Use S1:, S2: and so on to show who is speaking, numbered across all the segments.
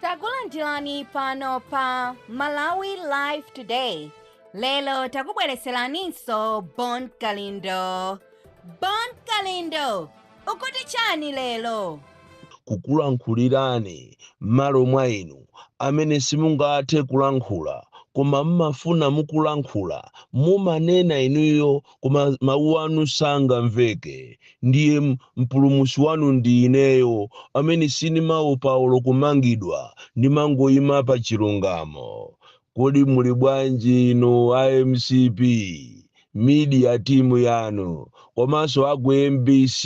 S1: takulandirani pano pa malawi live today lero takubwereseraninso bon kalindo bon kalindo ukuti chani lero kukulankhulirani
S2: m'malo mwa inu amene simungathe kulankhula koma mmafuna mukulankhula mumanena inuyo koma mawu anu sangamveke ndiye m- mpulumusi wanu ndi ineyo amene sindimaopa olo kumangidwa ndimangoyima pa chilungamo kodi muli bwanji inu a mcp media timu yanu komanso aku mbc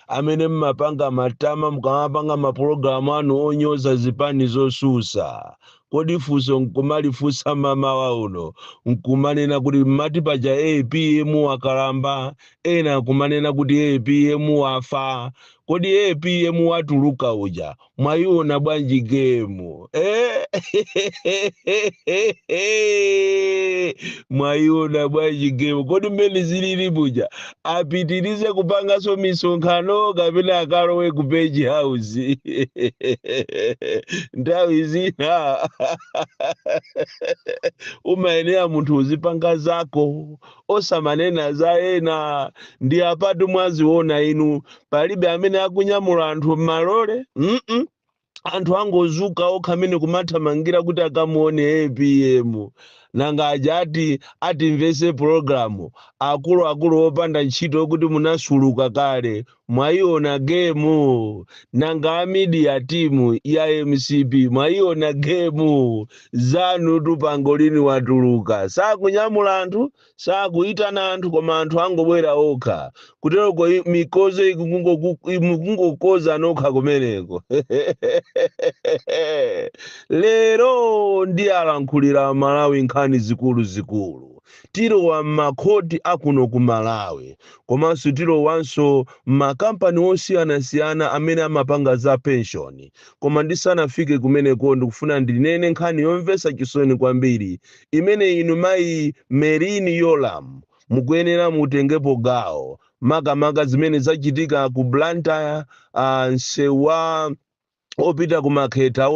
S2: amene mmapanga matama mukamapanga mapulogalamu anu onyoza zipani zosusa Kodi funso nkumalifunsa mamawa uno nkumanena kuti mmati paja apm wakalamba, ena nkumanena kuti apm wafa. Kodi apm watuluka uja mwayiona bwanji gemu? Eh? mwayiona bwanji gemu? Kodi mmene zilili muja apitirize kupanganso misonkhano kapena akalowe ku page house nthawi zina umayenera munthu uzipanga zako osamanena za ena ndi apatu mwaziona inu palibe amene akunyamula anthu m'malole mm-mm. anthu angozuka okha amene kumathamangira kuti akamuone apm nanga aja ati atimvese pologalamu akuluakulu opanda ntchito oti munasuluka kale mwayiona gemu nanga a media timu ya mcp mwayiona gemu zanutu pangolini watuluka sakunyamula anthu sakuitana anthu koma anthu angobwera okha kuteroko i- mikozo ikungoku- i- mukungokoza nokha kumeneko lero ndiwalankhulira amalawi nkhani zikuluzikulu tilowa m'makhoti akuno ku malawi komanso tilowanso m'makampani osiyanasiyana amene amapanga za penshoni koma ndisanafike kumeneko ndikufuna ndinene nkhani yomvetsa chisoni kwambiri imene inu mayi Merlyn Yolamu mukuyenera mutengepo gawo makamaka zimene zachitika ku Blantyre nseu wopita ku Makhetha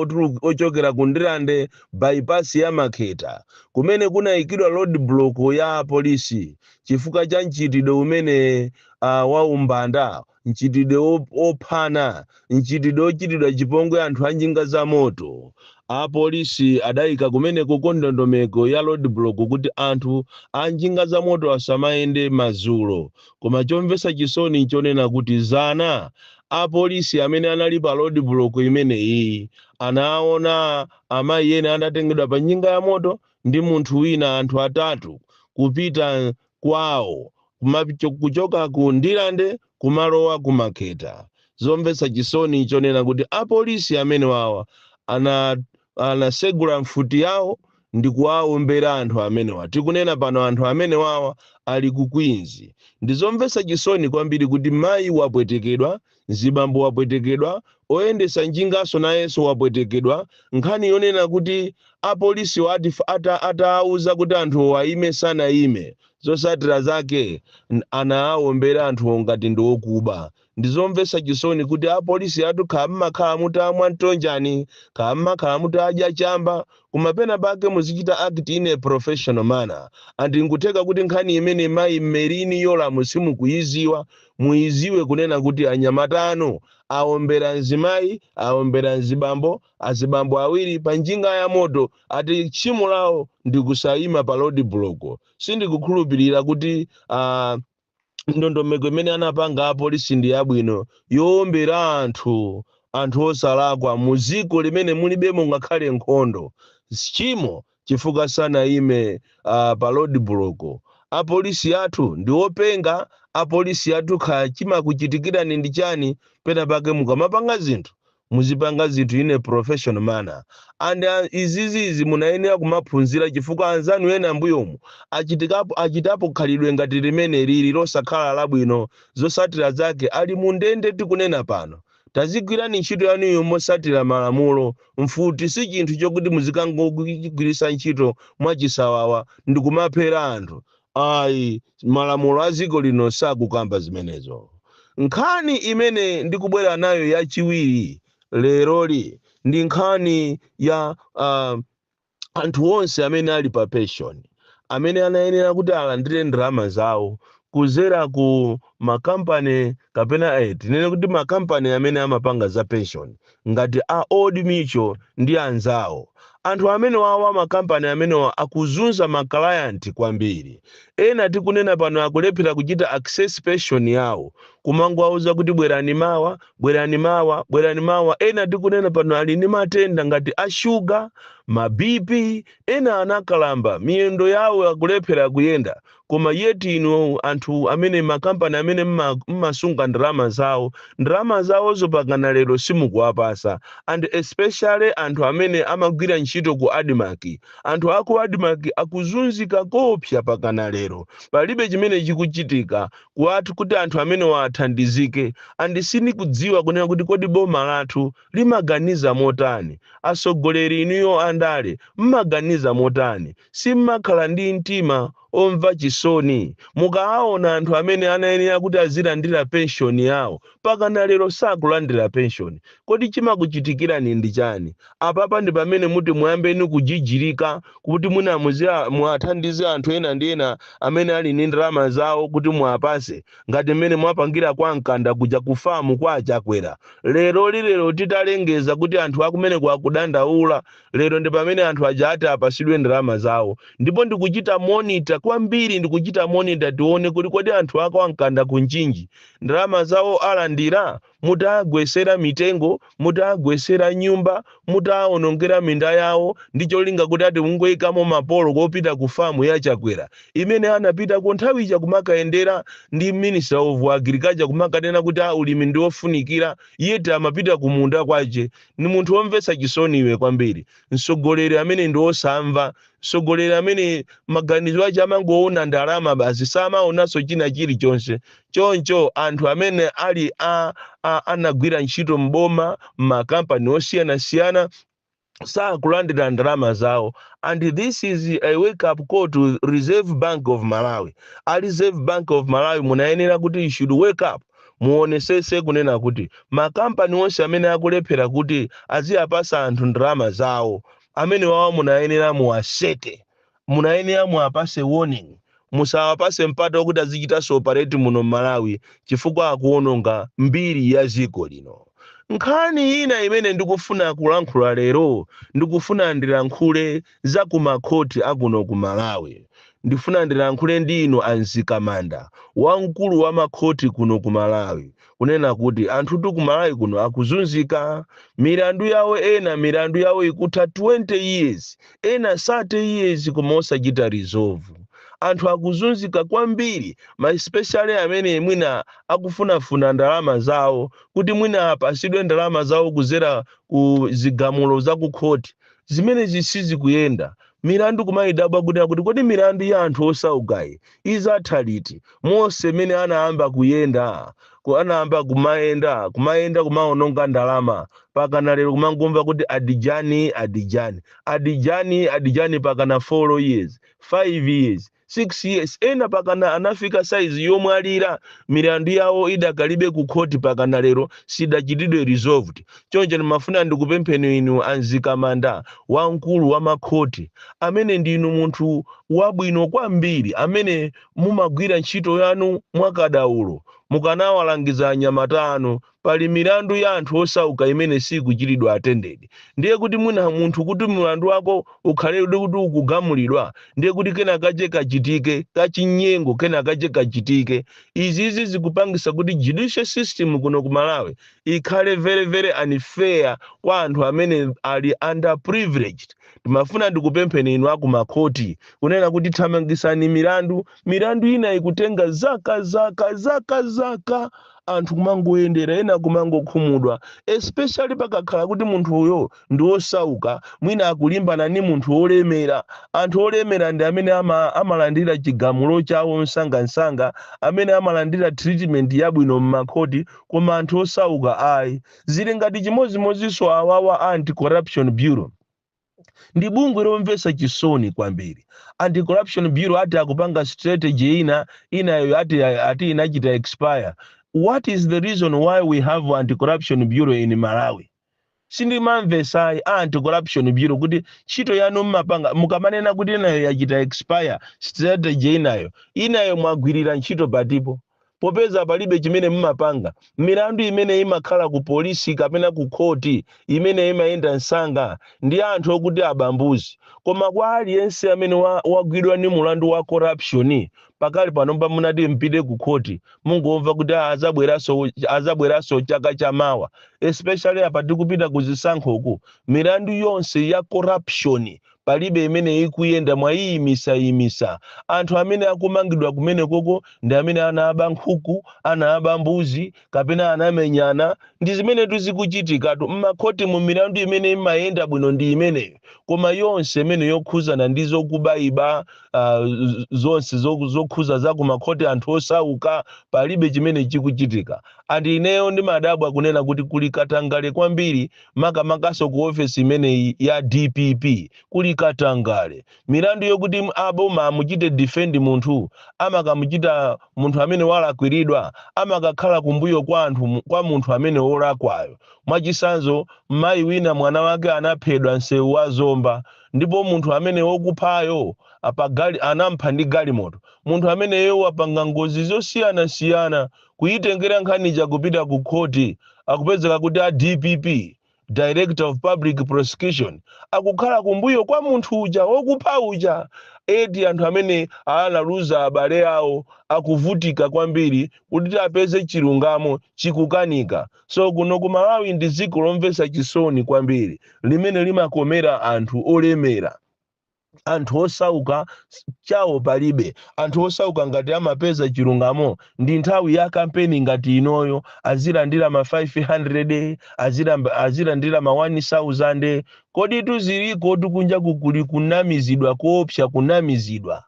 S2: ochokera ku Ndirande bypass ya Makhetha kumene kunayikidwa road block ya apolisi chifukwa cha mchitidwe umene wa umbanda mchitidwe wop- wophana, mchitidwe wochitidwa chipongwe anthu a njinga za moto. Apolisi adaika kumenekoko ndondomeko ya roadblock kuti anthu a njinga za moto asamayende madzulo. Koma chomvetsa chisoni nchonena kuti zana apolisi amene anali pa roadblock imeneyi anaona amayi ena anatengedwa pa njinga ya moto ndi munthu wina anthu atatu kupita kwawo kuchoka ku Ndirande kumalowa ku Makhetha. Zomvetsa chisoni chonena kuti apolisi amenewawa anasegula mfuti yawo ndikuwawombera anthu amenewa. Tikunena pano anthu amenewawa ali ku Queens. Ndizomvetsa chisoni kwambiri kuti mayi wapwetekedwa Mzibambo wapwetekedwa, oyendesa njingaso nayeso wapwetekedwa, nkhani yonena kuti apolisiwo ati ata atawauza kuti anthuwo ayime sanayime, zosatira zake anawawombera anthuwo ngati ndi okuba. Ndizomvesa chisoni kuti apolisi athu kha mmakhala mutamwa ntonjani, kha mmakhala mutadya chamba, koma pena pake muzichita act in a professional manner, and nkutheka kuti nkhani imene mayi Merlyne Yolamu simukuyiziwa, muiziwe kunena kuti anyamata anu aombera nzimai aombera nzibambo azibambo awiri pa njinga ya moto ati tchimo lawo ndikusaima pa roadblock sindikukhulupilira kuti uh, ndondomeko imene anapanga apolisi ndi yabwino yoombera anthu anthu osalakwa mu ziko limene mulibemo ngakhale nkhondo tchimo chifukwa sanayime uh, pa road block apolisi athu ndi openga apolisi athu kha chimakuchitikirani ndi chani pena pake mukamapanga zinthu muzipanga zinthu in a professional manner and uh, izizizi munayenera kumaphunzira chifukwa anzanu ena mbuyomu achitikapo achitapo khalidwe ngati limeneli losakhala labwino zosatira zake ali mu ndende tikunena pano Tazigwirani ntchito yanuyo motsatira malamulo. Mfuti si chinthu chokuti muzikangochigwiritsa ntchito mwachisawawa ndikumaphera anthu ayi. Malamulo a dziko lino sakukamba zimenezo. Nkhani imene ndikubwera nayo yachiwiri leroli ndi nkhani ya a. anthu onse amene ali pa pension amene anayenera kuti alandire ndalama zawo kuzera ku makampani kapena eh, tinene kuti makampani amene amapanga za pension ngati a Old Mutual ndi anzawo anthu amenewawa makampani amenewa akuzunza makalayanti kwambiri ena tikunena pano akulephera kuchita access pension yawo kumangowauza kuti bwerani mawa Bwerani mawa, bwerani mawa. Ena tikunena pano ali ndi matenda ngati a shuga, ma BP, ena anakalamba, miyendo yawo akulephera kuyenda. Koma yet inu anthu amene makampani amene mumasunga ndalama zawo, ndalama zawozo pakana lero simukuwapasa and especially anthu amene amagwira ntchito ku Admarc. Anthu aku Admarc akuzunzika koopsa pakana lero. Palibe chimene chikuchitika. kuwathu kuti anthu amenewa athandizike and sindikudziwa kunena kuti kodi boma lathu limaganiza motani, atsogoleri inuyo andale mmaganiza motani, simmakhala ndi mtima omva chisoni mukaawona anthu amene anayenera kuti azilandira pension yawo pakana lero sakulandira pension kodi chimakuchitikirani ndi chani? Apapa ndi pamene muti muyambeno kujijirika kuti mwina muziya, muwathandize anthu ena ndi ena amene ali ni ndalama zawo kuti muwapase ngati mmene mwapangira kwa Mkanda kuja ku farm kwa a Chakwera. Leroli lero titalengeza kuti anthu akumeneko akudandaula, lero ndi pamene anthu aja ati apasidwe ndalama zawo. Ndipo ndikuchita monitor kwambiri ndikuchita monitor tione kuti kodi anthu a kwa Mkanda ku Mchinji ndalama zawo alandira? mutawagwetsera mitengo, mutawagwetsera nyumba, mutawawonongera minda yawo ndi cholinga kuti ati mungoikamo mapolo opita ku farm ya Chakwera imene anapitako nthawi ija kumakayendera ndi minister of Agriculture kumakanena kuti ulimi ndi ofunikira yet amapita ku munda kwache. Ndi munthu womvetsa chisoni iwe kwambiri. Mtsogoleri amene ndi wosamva mtsogoleri amene maganizo ache amangoona ndalama basi samaonanso china chilichonse choncho anthu amene ali a, a anagwira ntchito m'boma m'makampani osiyanasiyana sakulandira ndalama zawo and this is a wake up call to reserve bank of malawi a reserve bank of malawi munayenera kuti you should wake up muonesese kunena kuti makampani onse amene akulephera kuti aziyapasa anthu ndalama zawo Amenewawa munayenera muwaseke. Munayenera muwapase warning. Musawapase mpata okuti azichitanso operate muno m'Malawi chifukwa akuononga mbiri ya dziko lino. Nkhani ina imene ndikufuna kulankhula lero ndikufuna ndilankhule za ku ma court a kuno ku Malawi. Ndifuna ndilankhule ndi inu a Mzikamanda, wamkulu wa ma court kuno ku Malawi. kunena kuti anthutu ku malawi kuno akuzunzika milandu yawo ena milandu yawo ikutha 20 years ena 30 years koma osachita resolve anthu akuzunzika kwambiri ma especially amene mwina akufunafuna ndalama zawo kuti mwina apasidwe ndalama zawo kuzera ku zigamulo za ku khoti zimenezi sizikuyenda milandu kumayidabwa kunena kuti kodi milandu ya anthu osaukayi Idzatha liti? Monse mmene anayamba kuyenda ku- anayamba kumayenda kumayenda kumaononga ndalama pakana lero kumangomva kuti adijani adijani adijani adijani pakana 4 years 5 years 6 years ena pakana anafika saizi yomwalira milandu yawo idakalibe ku khoti pakana lero sidachitidwe resolved Choncho ndimafuna ndikupempheni inu a Mzikamanda wamkulu wa makhoti, amene ndinu munthu wabwino kwambiri amene mumagwira ntchito yanu mwa kadaulo, mukanawalangiza anyamata anu, pali milandu ya anthu osauka imene siikuchitidwa attended, ndiye kuti mwina munthu kuti mulandu wako ukhaledi kuti ukugamulidwa ndiye kuti kena kache kachitike ka chinyengo kena kache kachitike. Izizi zikupangisa kuti judicial system kuno ku Malawi ikhale very very unfair kwa anthu amene ali under privileged ndimafuna ndikupempheni inu akumakhoti kunena kuti thamangisani milandu milandu ina ikutenga zaka zaka zaka zaka anthu kumangoyendera ena kumangokhumudwa especially pakakhala kuti munthu uyo ndi wosauka, mwina akulimbana ndi munthu wolemera. Anthu olemera ndi amene ama, amalandira chigamulo chawo msangamsanga, amene amalandira treatment yabwino m'makhoti, koma anthu osauka ayi. Zili ngati chimodzimodzinso awawa a Anti-Corruption Bureau. Ndi bungwe lomvetsa chisoni kwambiri. Anti-Corruption Bureau ati akupanga strategy ina, inayo ati, ati inachita expire. What is the reason why we have Anti-Corruption Bureau in Malawi? Sindimamvesa ayi a anti corruption bureau kuti ntchito yanu mmapanga mukamanena kuti inayo yachita expire strategy inayo inayo mwagwirira ntchito patipo popeza palibe chimene mmapanga milandu imene imakhala ku police kapena ku court imene imayenda msanga ndi anthu okuti aba mbuzi koma kwa aliyense amene wa wagwidwa ndi mulandu wa corruption pakali pano mba simunati mpite ku khoti mungomva kuti "Ah, azabweranso azabweranso chaka cha mawa especially apa tikupita ku zisankhoku milandu yonse ya corruption palibe imene ikuyenda mwayiyimisayimisa anthu amene akumangidwa kumenekoko ndi amene anaba nkhuku anaba mbuzi kapena anamenyana ndi zimenetu zikuchitikatu mmakhotimu milandu imene imayenda bwino ndi imeneyo koma yonse imene yokhuzana ndi zokubayiba uh, zonse zo- zokhuza za kumakhoti anthu osauka palibe chimene chikuchitika and ineyo ndimadabwa kunena kuti kuli katangale kwambiri makamakanso ku ofesi imeneyi ya dpp kuli katangale milandu yokuti m- aboma amuchite defend munthu amakamuchita munthu amene walakwiridwa amakakhala kumbuyo kwa anthu mu- kwa munthu amene wolakwayo mwachisanzo mayi wina mwana wake anaphedwa msewu wa zomba ndipo munthu amene wokuphayo apagali anampha ndi galimoto munthu ameneyo wapanga ngozi zosiyanasiyana kuitengera nkhani ija kupita ku khoti akupezeka kuti a dpp director of public prosecution akukhala kumbuyo kwa munthu uja wokupha uja eti anthu amene analuza abale awo akuvutika kwambiri kuti apeze chilungamo chikukanika So kuno ku Malawi ndi dziko lomvetsa chisoni kwambiri limene limakomera anthu olemera anthu osauka s- chawo palibe anthu osauka ngati amapeza chilungamo ndi nthawi ya kampeni ngati inoyo azilandira ma 500 azilamba- azilandira ma 1000 kodi tuziliko tukunja kukuli kunamizidwa koopsa kunamizidwa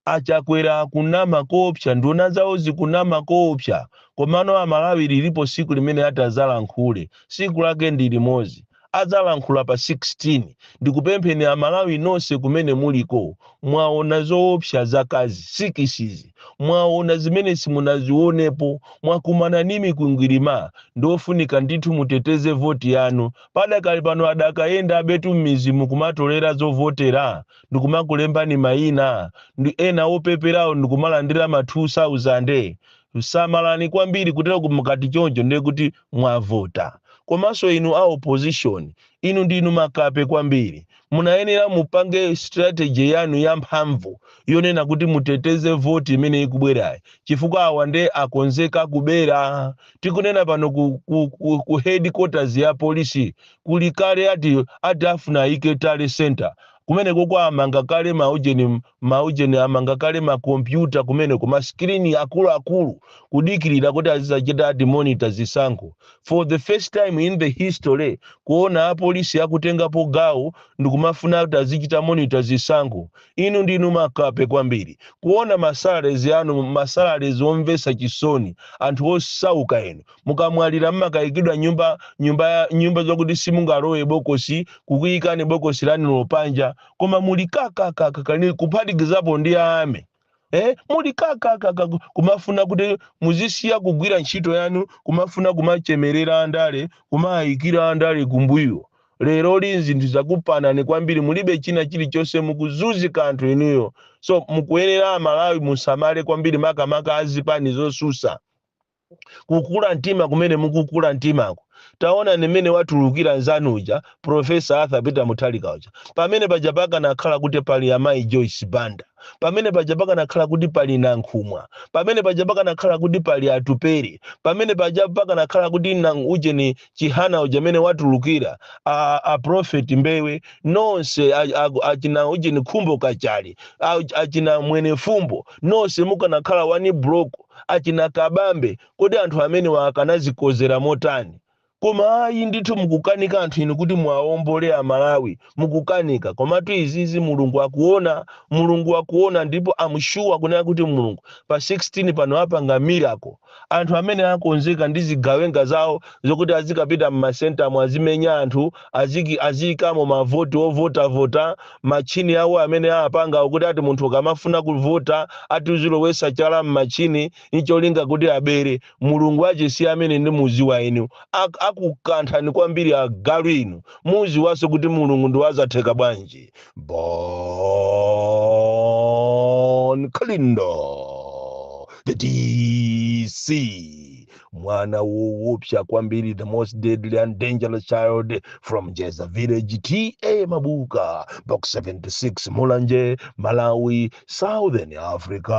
S2: Achakwera akunama koopsa nduna zawo zikunama koopsa komano amalawi lilipo siku limene atazalankhule siku lake ndi limozi azalankhula pa 16 ndikupempheni amalawi nonse kumene muliko mwaona zoopsa zaka izi sikisizi mwaona zimene simunazionepo mwakumana ni mikwingwilima ndiofunika ndithu muteteze voti yanu padakali pano adakayendabetu mmizi umu kumatolera zovotera ndikumakulembani mayina nde ena opeperawo ndikumalandira ma 2000 samalani kwambiri kutero kuti mukati choncho ndiye kuti mwavota komanso inu a opposition inu ndinu makape kwambiri munayenera mupange strategy yanu yamphamvu yonena kuti muteteze voti imene ikubwerayi chifukwa awa nde akonzeka kubera tikunena pano ku, ku, ku, ku headquarters ya polisi kuli kale ati afuna ayike tally centre kumenekoko amanga kale ma ujeni ma ujeni amanga kale ma computer kumeneko ma screen akuluakulu kudikirira kuti azizachita ati monitor zisankho for the first time in the history kuona apolisi akutengapo gawo ndikumafuna kuti azichita monitor zisankho inu ndinu makape kwambiri kuona masalaries anu masalaries omvesa chisoni anthu osauka enu mukamwalira mmakayikidwa mnyumba nyumba nyumba zokuti simungalowe bokosi kukuyikani bokosi lanu lo panja koma muli kakakakaka ni kuphatikizapo ndi ame eh muli kakakaka kumafuna kuti muzisiya kugwira ntchito yanu kumafuna kumachemerera andale kumayikira andale kumbuyo lero li zinthu zakupanani kwambiri mulibe china chilichonse mukuzunzika anthu inuyo so mukuyenera amalawi musamale kwambiri makamaka azipani zosusa kukula mtima kumene mukukula mtimako taonani mmene watulukira nzanu uja profesa arthur peter Mutharika uja pamene paja pakanakhala kuti pali amayi joyce banda pamene paja pakanakhala kuti pali nankhumwa pamene paja pakanakhala kuti pali atupere pamene paja pakanakhala kuti nang- ujeni chihana uja mmene watulukira a, a prophet mbewe nonse a- a- achina ujeni khumbo kachali a- achina Mwenifumbo nonse mukanakhala one block achina Kabambe kodi anthu amenewa akanazikozera motani? Koma ayi ndithu mukukanika anthu inu kuti muwaombole a Malawi mukukanika komatu izizi Mulungu akuona Mulungu wakuona ndipo am sure kunena kuti Mulungu pa 16 pano apanga miracle anthu amene akonzeka ndi zigawenga zawo zokuti azikapita mma ma centre mo azimenya anthu aziki aziyikamo ma vote ovota vota Machine awo amene apangawo kuti ati munthu ukamafuna kuvota ati uzilowesa chala mmachine ncholinga kuti abere. Mulungu achitsitse amene ndimuziwa ine. Ak akukanthani kwambiri agalu inu. Mudziwanso kuti Mulungu ndi wazatheka bwanji. Bon Kalindo the DC. mwana woopsa kwambiri the most deadly and dangerous child from jeza village ta mabuka box 76 mulanje malawi southern africa